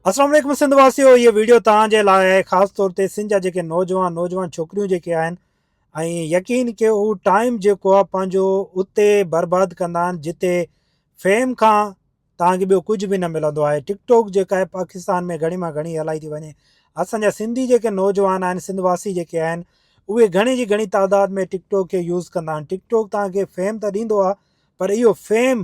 السلام علیکم سنڌ واسيو هيء ويڊيو توهان جي لاء آهي خاص طور تي سنڌ جا جيڪي نوجوان نوجوان ڇوڪريون جيڪي آهن ۽ يقين ڪيو هو ٽائيم جيڪو آهي پنهنجو اتي برباد ڪندا آهن جتي فيم کان توهان کي ٻيو ڪجهه به نه ملندو آهي ٽڪ ٽاڪ جيڪا آهي پاڪستان ۾ گهڻي مان گهڻي هلائي ٿي وڃي اسان جا سنڌي جيڪي نوجوان آهن سنڌ واسي جيڪي آهن اهي گهڻي جي گهڻي تعداد ۾ ٽڪ ٽاڪ کي يوز ڪندا آهن ٽڪ ٽاڪ توهان کي فيم ته ڏيندو آهي پر اهو فيم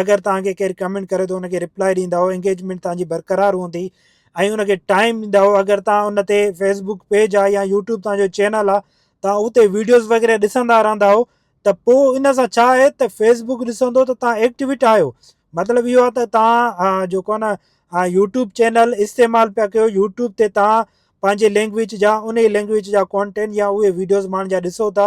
اگر توهان کي ڪير ڪمينٽ ڪري ٿو ان کي رپلائي ڏيندا او انگيجمينٽ توهان جي برقرار هوندي ۽ ان کي ٽائم ڏيندا او اگر توهان ان تي فيسبوڪ پيج آ يا يوٽيوب توهان جو چينل آ توهان اتي ويڊيوز وغيره ڏسندا رهندا او ته پو ان سان ڇا آهي ته فيسبوڪ ڏسندو ته توهان ايڪٽيويٽ آهيو مطلب اهو آ ته توهان جيڪو آ نه يوٽيوب چينل استعمال پيا ڪيو يوٽيوب تي توهان پنهنجي لينگويج جا ان لينگويج جا ڪانٽينٽ يا اهي ويڊيوز ماڻهن جا ڏسو ٿا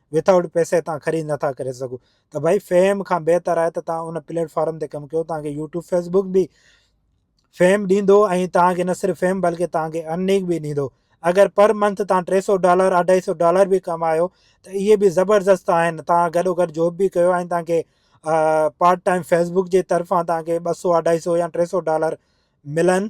وٿائوٽ پئسي تان خريد نٿا ڪري سگهو ته ڀائي فيم کان بهتر آهي ته تان ان پليٽفارم تي ڪم ڪيو تان کي يوٽيوب فيسبوڪ به فيم ڏيندو ۽ تان کي نه صرف فيم بلڪه تان کي ارننگ به ڏيندو اگر پر منٿ تان ٽي سو ڊالر اڍائي سو ڊالر به ڪمايو ته اهي به زبردست آهن تان گڏو گڏ جاب به ڪيو ۽ تان کي پارٽ ٽائم فيسبوڪ جي طرفان تان کي ٻه سو اڍائي سو يا ٽي سو ڊالر ملن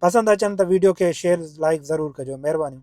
پسند اچن ته ويڊيو کي شيئر لائيڪ ضرور ڪجو مھربانيون.